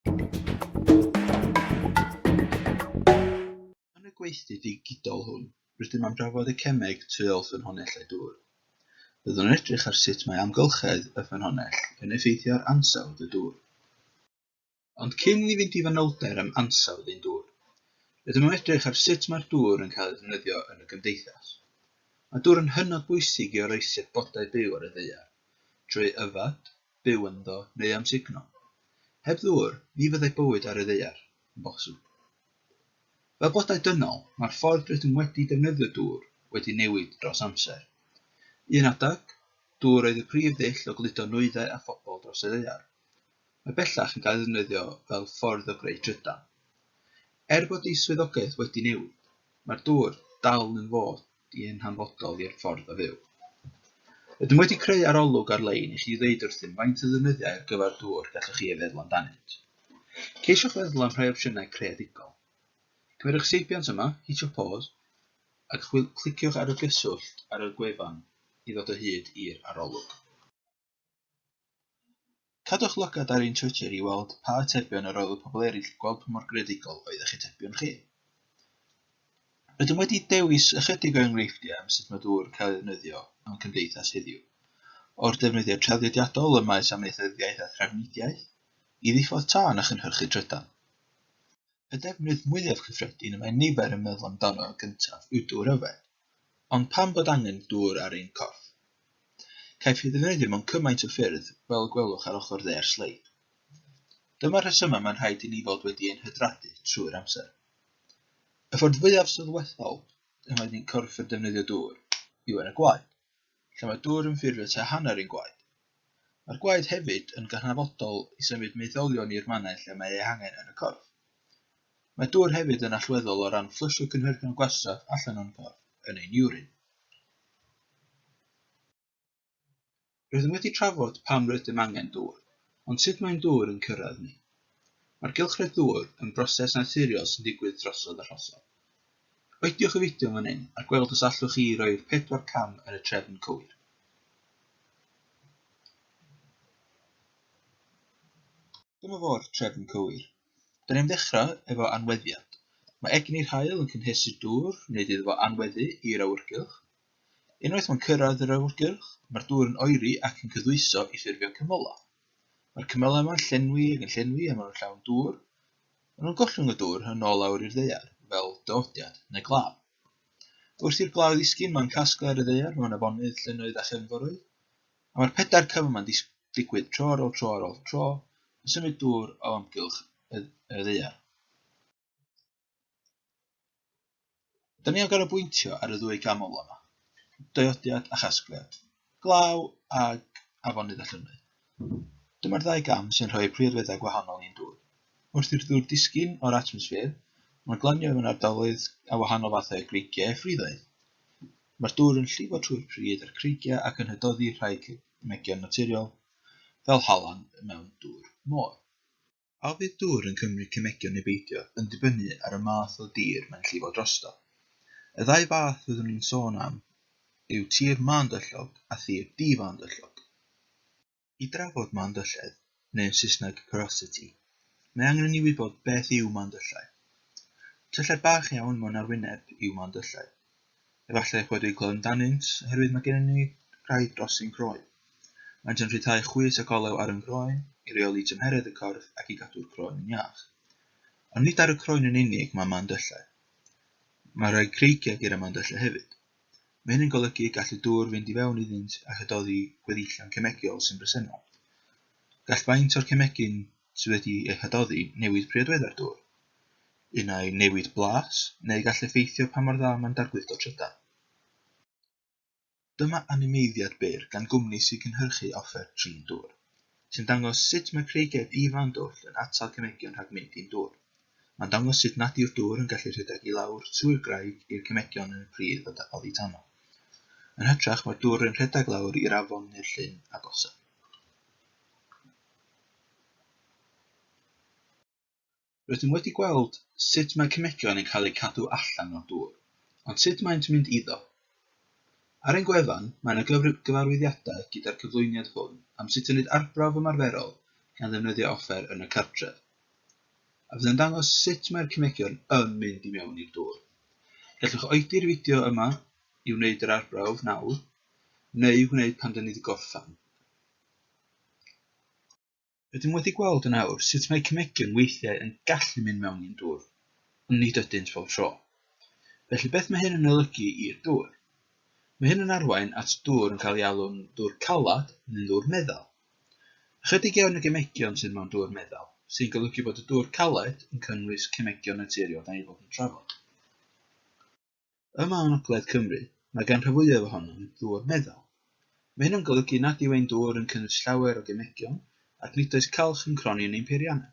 Yn y gweithdy ddigidol hwn, rydym am drafod y cemeg tu ôl ffynhonnellau dŵr. Byddwn yn edrych ar sut mae amgylchedd y ffynhonnell yn effeithio ar ansawdd y dŵr. Ond cyn i ni fynd i fanylder am ansawdd ein dŵr, rydym am edrych ar sut mae'r dŵr yn cael ei ddefnyddio yn y gymdeithas. Mae dŵr yn hynod bwysig i oroesi'r bodau byw ar y ddaear, trwy yfed, byw ynddo neu amsugno. Heb ddŵr, ni fyddai bywyd ar y ddaear yn bosib. Fel blodau dynol, mae'r ffordd rydym wedi defnyddio dŵr wedi newid dros amser. Un adeg, dŵr oedd y prif ddull o gludo nwyddau a phobl dros y ddaear. Mae bellach yn cael ei ddefnyddio fel ffordd o greu trydan. Er bod ei swyddogaeth wedi newid, mae'r dŵr dal yn fod i yn hanfodol i'r ffordd o fyw. Ydym wedi creu arolwg ar-lein i chi ddeud wrthym faint o ddefnyddiau ar gyfer dŵr gallwch chi ei feddwl amdanynt. Ceisiwch feddwl am rhai opsiynau creadigol. Cymerwch seibiant yma, hitio pause, ac chwil- cliciwch ar y gyswllt ar y gwefan i ddod o hyd i'r arolwg. Cadwch lygad ar ein Twitter i weld pa atebion yr oedd y pobl eraill yn gweld pa mor greadigol oedd eich atebion chi. Rydym wedi dewis ychydig o enghreifftiau am sut mae dŵr yn cael ei ddefnyddio mewn cymdeithas heddiw, o'r defnyddiau traddodiadol ym maes amaethyddiaeth a thrafnidiaeth, i ddiffodd tân a chynhyrchu trydan. Y defnydd mwyaf cyffredin y mae nifer yn meddwl amdano gyntaf yw dŵr yfed. Ond pam bod angen dŵr ar ein corff? Caiff ei ddefnyddio mewn cymaint o ffyrdd, fel y gwelwch ar ochr dde'r sleid. Dyma'r rhesymau mae'n rhaid i ni fod wedi ein hydradu trwy'r amser. Y ffordd fwyaf sylweddol y mae ein corff yn defnyddio dŵr yw yn y gwaed. lle mae dŵr yn ffurfio tua hanner ein gwaed. Mae'r gwaed hefyd yn gydnabodol i symud maetholion i'r mannau lle mae eu hangen yn y corff. Mae dŵr hefyd yn allweddol o ran fflysio cynhyrchion gwastraff allan o'n corff, yn ein iwrin. Rydym wedi trafod pam rydym angen dŵr, ond sut mae'n dŵr yn cyrraedd ni. Mae'r gylchred ddŵr yn broses naturiol sy'n digwydd drosodd a rhosodd. Cliciwch y fideo fan hyn a gweld os allwch chi roi'r pedwar cam yn y trefn cywir. Dyma fo'r trefn cywir. Da ni'n ddechrau efo anweddiad. Mae egni'r haul yn cynhesu'r dŵr, wneud iddo fo anweddu i'r awyrgylch. Unwaith mae'n cyrraedd yr awyrgylch, mae'r dŵr yn oeri ac yn cyddwyso i ffurfio cymylau. Mae'r cymylau yma'n llenwi ac yn llenwi a maen nhw'n llawn dŵr, Maen nhw'n gollwng y dŵr yn ôl lawr i'r ddaear fel dywodiad neu glaw. Wrth i'r glaw ddisgyn mae'n casglu ar y ddaear mewn afonydd, llynnoedd a chefnforoedd, a mae'r pedair cyfan ma'n digwydd tro ar ôl tro ar ôl tro yn symud dŵr o amgylch y ddaear. Dyn ni am ganolbwyntio ar y ddwy gam olaf yma, daiodiad a chasgliad, glaw ag afonydd a llynnoedd. Dyma'r ddau gam sy'n rhoi priodweddau gwahanol i'n dŵr. Wrth i'r ddŵr disgyn o'r atmosffer, mae'n glanio mewn ardaloedd â wahanol fathau o greigiau a phriddoedd. Mae'r dŵr yn llifo trwy'r pridd a'r creigiau ac yn hydoddi rhai cemeggion naturiol, fel halan mewn dŵr môr. A fydd dŵr yn cymryd cemegio neu beidio yn dibynnu ar y math o dir mae'n llifo drosto. Y ddau fath fyddwn i'n sôn am yw tir mân-dyllog a thir di-fân-dyllog. I drafod mân-dylledd, neu yn Saesneg porosity, mae angen i ni wybod beth yw mân-dyllau. Tyllau bach iawn mewn arwyneb yw mân-dyllau. Efallai eich wedi clywed amdanynt, oherwydd mae gennym ni rai dros ein croen. Maent yn rhyddhau chwys ac olew ar ein croen, i reoli tymheredd y corff ac i gadw'r croen yn iach. Ond nid ar y croen yn unig mae mandyllau. Mae rhai creigiau gyda mandyllau hefyd. Mae hyn yn golygu y gall y dŵr fynd i fewn iddynt a chydoddi gweddillion cemegiol sy'n bresennol. Gall faint o'r cemegyn sydd wedi eu hadoddi newid priodweddau'r dŵr. Un ai newid blas, neu gall effeithio pa mor dda mae'n dargluddo trydan. Dyma animeiddiad byr gan gwmni sy'n cynhyrchu offer trin dŵr, sy'n dangos sut mae creigiau di-fawn dwll yn atal cemegion rhag mynd i'n dŵr. Mae'n dangos sut nad yw'r dŵr yn gallu rhedeg i lawr trwy'r graig i'r cemegion yn y pridd odditanol. Yn hytrach, mae'r dŵr yn rhedeg lawr i'r afon neu'r llyn agosaf. Rydym wedi gweld sut mae cemegion yn cael eu cadw allan o'r dŵr, ond sut maent yn mynd iddo? Ar ein gwefan, mae yna gyfarwyddiadau gyda'r cyflwyniad hwn am sut i wneud arbrawf ymarferol gan ddefnyddio offer yn y cartref, a fydd yn dangos sut mae'r cemegion yn mynd i mewn i'r dŵr. Gallwch oedi'r fideo yma i wneud yr arbrawf nawr, neu wneud pan dyn ni wedi gorffen. Rydym wedi gweld yn awr sut mae cemegion weithiau yn gallu mynd mewn i'n dŵr, ond nid ydynt bob tro. Felly beth mae hyn yn olygu i'r dŵr? Mae hyn yn arwain at ddŵr yn cael ei alw'n ddŵr caled neu'n ddŵr meddal. Ychydig iawn o gemegion sydd mewn dŵr meddal, sy'n golygu bod y dŵr caled yn cynnwys cemegion naturiol da ni fod yn trafod. Yma yng ngogledd Cymru, mae gan rhan fwyaf ohonom ddŵr meddal. Mae hyn yn golygu nad yw ein dŵr yn cynnwys llawer o gemegion ac nid oes calch yn cronni yn ein peiriannau,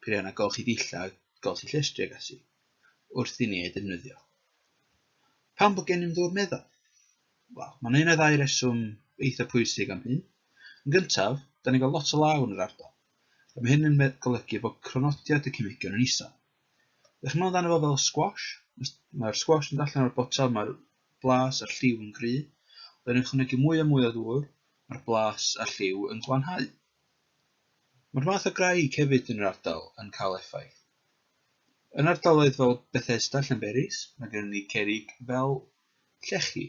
peiriannau golchi dillad, golchi llestri ac ati, wrth i ni eu defnyddio. Pam bod gennym ddŵr meddal? Wel, mae'n un o ddau reswm eitha pwysig am hyn. Yn gyntaf, da ni'n cael lot o law yn yr ardal, a mae hyn yn golygu bod cronodiad y cemegion yn isel. Dach chi'n meddwl amdano fo fel squash? Mae'r squash yn allan o'r botel, mae'r blas a'r lliw yn gry. Os ydych ychwanegu mwy a mwy o ddŵr, mae'r blas a'r lliw yn glanhau. Mae'r math o graig hefyd yn yr ardal yn cael effaith. Yn ardaloedd fel Bethesda, Llanberis, mae gennym ni cerrig fel llechi,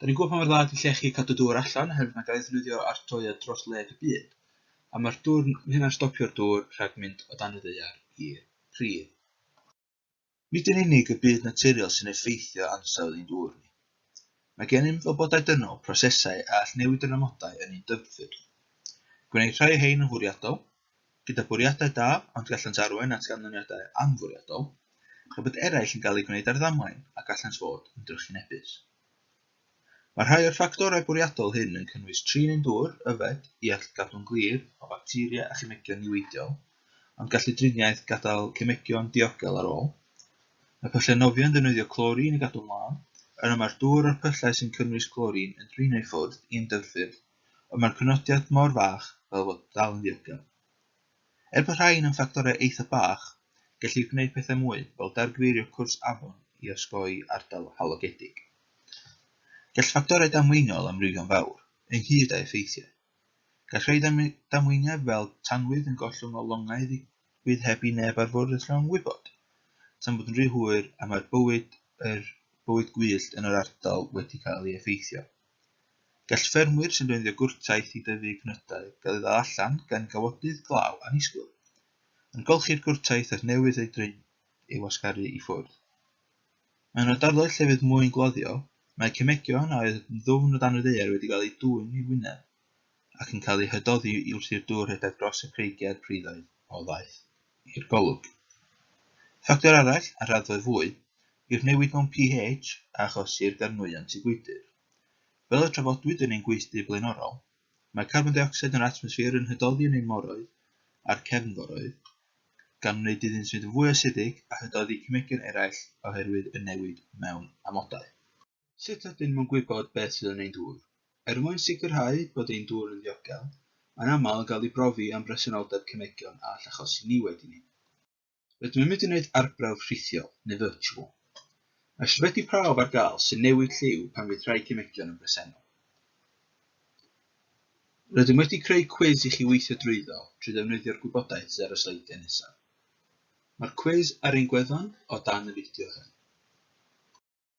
Da ni'n gwybod pa mor dda ydy llechi cadw dŵr allan oherwydd mae gael ei ddefnyddio ar droeon dros wledd y byd, a mae'r dwrn yn hynna'n stopio'r dŵr rhag mynd o dan y ddaear i'r pridd. Nid yn unig y byd naturiol sy'n effeithio ansawdd ein dŵr ni. Mae gennym wybodau dynol, prosesau a all newid yr amodau yn ein dyfrffyrdd. Gwneir rhai o hein yn fwriadol, gyda bwriadau da ond gallant arwain at ganlyniadau anfwriadol, tra bod eraill yn cael eu gwneud ar ddamwain a gallant fod yn drychinebus. Mae rhai o'r ffactorau bwriadol hyn yn cynnwys trin yn dwr, yfed, i allu cadw'n glir o facteria a chemegion niweidiol, ond gallu driniaeth gadael cemegion diogel ar ôl. Mae pyllau nofio'n ddefnyddio clorin i gadw'n lân, yna mae'r dwr a'r pyllau sy'n cynnwys clorin yn drin eu ffwrdd i ymddyfrffyrdd ond mae'r penodiad mor fach fel bod dal yn ddiogel. Er bod rhain yn ffactorau eitha bach, gellir gwneud pethau mwy fel dargyfeirio cwrs afon i osgoi ardal halogedig. Gall ffactorau damweiniol amrywio'n fawr, ynghyd â effeithiau. Gall rhai damweiniau fel tanwydd yn gollwng o longau ddigwydd heb i neb ar fwrdd y llong wybod, tan bod yn rhy hwyr a mae'r bywyd, yr bywyd gwyllt yn yr ardal wedi cael ei effeithio. Gall ffermwyr sy'n defnyddio gwrtaith i dyfu cnydau gael ei ddal allan gan gawodydd glaw annisgwyl. Yn golchi'r gwrtaith er newydd ei droi ei wasgaru i ffwrdd. Mewn ardaloedd lle fydd mwyn gloddio, mae cemegion a oedd yn ddwfn o dan y ddaear wedi cael eu dwyn i'w wyneb. ac yn cael eu hydoddi wrth i'r dŵr rhedeg dros y creigiau'r priddoedd o ddaeth i'r golwg. Ffactor arall, ar raddfa fwy, yw'r newid mewn pH a achosir gan nwyon tŷ gwydr. Fel y trafodwyd yn ein gweithdy blaenorol, mae carbon deuocsid yn yr atmosffer yn hydoddi yn ein moroedd a'r cefnforoedd, gan wneud iddynt fynd yn fwy asidig a hydoddi cemegion eraill oherwydd y newid mewn amodau. Sut ydym yn gwybod beth sydd yn ein dŵr? Er mwyn sicrhau bod ein dŵr yn ddiogel, mae'n aml yn cael ei brofi am bresenoldeb cemegion a all achosi niwed i ni. Rydym yn mynd i wneud arbrawf rhithiol, neu virtual. Mae ysbyty prawf ar gael sy'n newid lliw pan fydd rhai cemegion yn bresennol. Rydym wedi creu cwis i chi weithio drwyddo trwy ddefnyddio'r gwybodaeth sydd ar y sleidiau nesaf. Mae'r cwis ar ein gwefan o dan y fideo hwn.